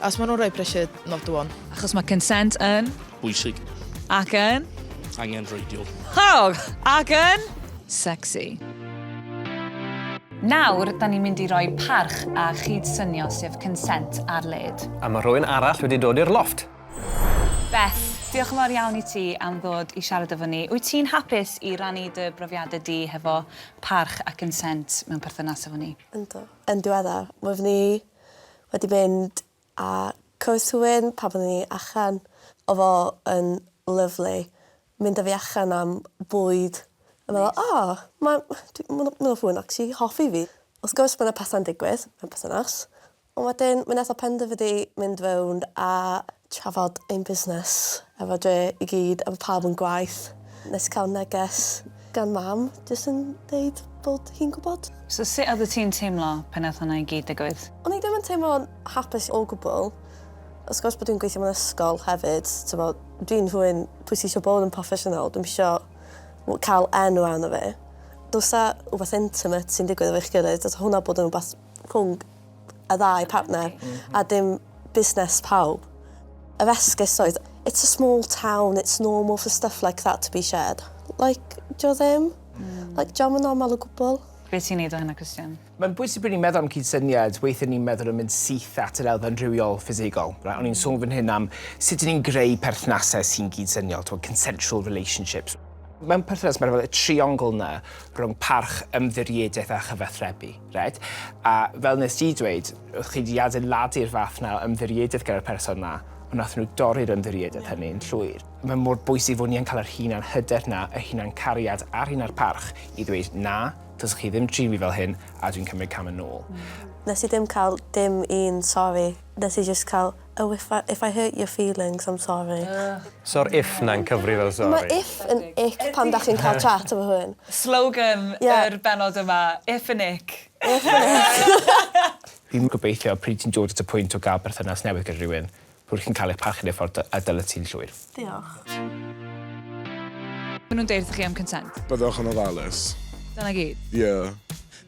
Achos maen nhw'n rhoi pressure not the one. Achos mae consent yn... Bwysig. Ac yn... Angen reidiol. Hog! Ac yn... Sexy. Nawr, da ni'n mynd i roi parch a chyd-synio sef consent ar led. A mae rhywun arall wedi dod i'r loft. Beth, diolch yn fawr iawn i ti am ddod i siarad efo ni. Wyt ti'n hapus i rannu dy brofiadau di hefo parch a consent mewn perthynas efo ni? Yndw. Yn diweddar, wyf ni wedi mynd a cwrs hywyn pan oeddwn i allan. Oedd o yn lyfli. Mynd â fi allan am bwyd. A meddwl o ma' dwi ma' 'wn ma' 'wn fwy nacsi hoffi fi. Wrth gwrs ma' 'na petha'n digwydd mewn perthynas. On' wedyn mi nath o penderfynu mynd rownd a trafod ein busnes efo dre i gyd a bo' pawb yn gwaith. Nes i ca'l neges gan mam jyst yn deud bod hi'n gwbod. So sut oddet ti'n teimlo pan nath hwnna i gyd digwydd? O'n i ddim yn teimlo'n hapus o gwbwl. Wrth gwrs bo' dwi'n gweithio mewn ysgol hefyd t'mo' dwi'n rhywun pwy sy isio bod yn proffesiynol dwi'm isio w- ca'l enw arno fi. Dylsa wbath intimate sy'n digwydd efo'ch gilydd dylsa hwnna bod yn wbath rhwng y ddau partner a dim busnes pawb. Yr esgus oedd it's a small town, it's normal for stuff like that to be shared. Like, dio ddim. Like, dio'm yn normal o gwbl. Be' ti'n neud o hynna Christian? Mae'n bwysig pryd ni'n meddwl am cydsyniad, weithiau ni'n meddwl yn mynd syth at yr elfen rhywiol, ffisigol. Right? O'n i'n sôn fan hyn am sut ni'n greu perthnasau sy'n cydsyniol, to consensual relationships. Mae'n perthynas, mae'n y triongl yna rhwng parch, ymddiriedaeth a chyfathrebu. Reit. A fel nes di dweud, oedd chi di adeiladu'r fath na o ymddiriedydd gyda'r person na, ond nathon nhw dorri'r ymddiriedydd hynny yn llwyr. Mae mor bwysig fod ni yn cael yr hunan hyder na, yr hunan cariad a'r hunan parch i ddweud, na, dylsech chi ddim trin fi fel hyn a dwi'n cymryd cam yn ôl. Nes i ddim cael dim un sori. Nes i jyst cael Oh if I if I hurt your feelings I'm sorry. Ych. So'r if 'na'n cyfri fel sori. Mae if yn ick pan dach chi'n cael chat efo rhywun. Slogan yr bennod yma, if yn ick. If yn ick. Dwi'n gobeithio pryd ti'n dod at y pwynt o gael perthynas newydd gyda rhywun, bod chi'n cael eich parchu yn y ffordd y dylet ti'n llwyr. Diolch. Maen nhw'n deud wrthoch chi am consent. Byddwch yn ofalus. Dyna gyd? Ie.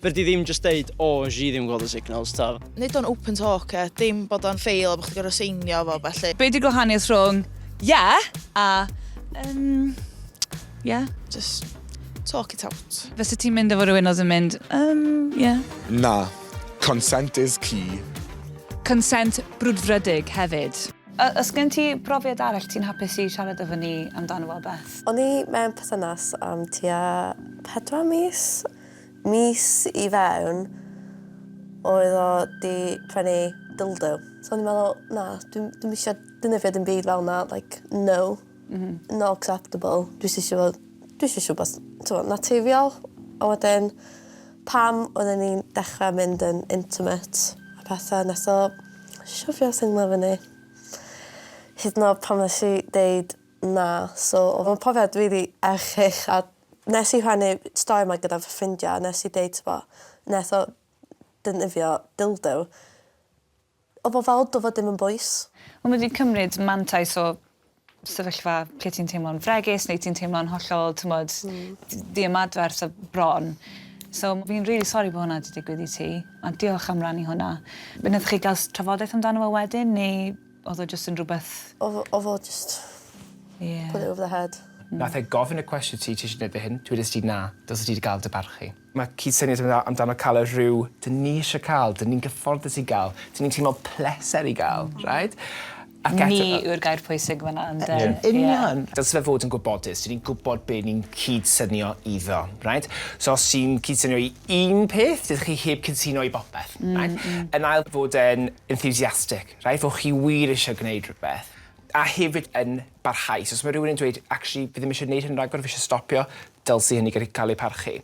Fedri ddim jyst deud o nes i ddim gweld y signals t'od? Neud o'n open talk e, dim bod o'n ffeil a bo' chdi gor'o' seinio fo a ballu. Be' 'di gwahaniaeth rhwng ie a yym ie? Jyst talk it out. Fyset ti'n mynd efo rhywun odd yn mynd yym ie? Na. Consent is key. Consent brwdfrydig hefyd. A os gen ti brofiad arall ti'n hapus i siarad efo ni amdano fo Beth? O'n i mewn perthynas am tua pedwar mis. Mis i fewn oedd o 'di prynu dildo. So o'n i'n meddwl na dwi'm dwi'm isio defnyddio dim byd fel 'na like no. M-hm. Not acceptable. Dwi jys isio fod dwi jys isio wbath t'mo' naturiol a wedyn pan oedden ni'n dechra mynd yn intimate a pethe nes o shwfio sunglo fyny. Hyd yn o'd pan nesh i deud na so odd o'n profiad rili erchyll a Nes i rhannu stori 'ma gyda fy ffrindia a nes i deud t'bo' neth o defnyddio dildo odd o fel do' fo dim yn bwys. Wel ma' 'di cymryd mantais o sefyllfa lle ti'n teimlo'n fregus neu ti'n teimlo'n hollol t'mod... Hmm. ...d- ddiymadferth a bron. So m- fi'n rili sori bo' hwnna 'di digwydd i ti ond diolch am rannu hwnna. Be' nathoch chi ga'l s- trafodaeth amdano fo wedyn neu Odd o jyst yn rwbeth... Odd o odd o jyst... Ie. ...put it over the head. Nath e gofyn y cwestiwn ti tisio neud e hyn? Dwedest ti na, dylse ti 'di ga'l dy barchu. Ma' cyd-syniad yn dda amdano ca'l y rhyw 'dyn ni isie ca'l, 'dyn ni'n gyfforddus i ga'l, 'dyn ni'n teimlo pleser i ga'l, reit? Ac eto... Ni yw'r gair pwysig fan'na ynde? Yn union! Dylse fe fod yn gwybodus, 'dyn ni'n gwbod be' ni'n cyd-synio iddo, reit? So os ti'n cyd-synio i un peth, dydych chi heb cyd-syno i bopeth, reit? Yn ail fod e'n enthusiastic. Rhaid fod chi wir eisiau gwneud rhywbeth a hefyd yn barhaus. Os mae rhywun yn dweud, actually, fi ddim eisiau gwneud hyn rhagor, fi eisiau stopio, dylse hynny gallu cael ei parchu.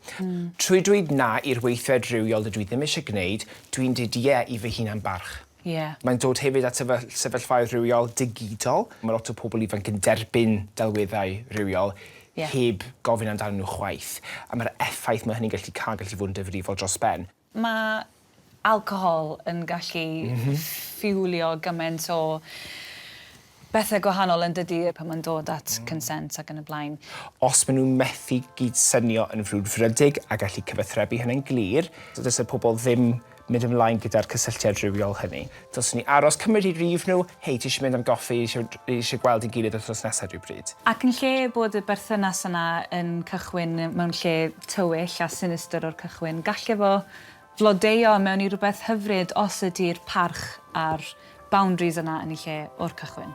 Trwy dweud na i'r weithred rywiol dydw i ddim eisiau gwneud, dwi'n dweud ie i fy hunan-barch. Mae'n dod hefyd at sefyllfaoedd rhywiol digidol. Mae lot o pobl ifanc yn derbyn delweddau rhywiol heb gofyn amdanyn nhw chwaith, a mae'r effaith mae hynny'n gallu cael yn gallu bod yn difrifol dros ben. Mae alcohol yn gallu ffiwlio gymaint o bethau gwahanol yn dydi, pan mae'n dod at consent ac yn y blaen. Os maen nhw'n methu gyd-synio yn frwdfrydig a gallu cyfathrebu hynny'n glir, dysa pobl ddim mynd ymlaen gyda'r cysylltiad rhywiol hynny. Dylsen ni aros cymryd i rif nhw, hei ti eisiau mynd am goffi, ni eisiau gweld ein gilydd wythnos nesaf rhywbryd. Ac yn lle bod y berthynas yna yn cychwyn mewn lle tywyll a sinistr o'r cychwyn, galle fo flodeuo mewn i rywbeth hyfryd os ydi'r parch a'r boundaries yna yn eu lle o'r cychwyn.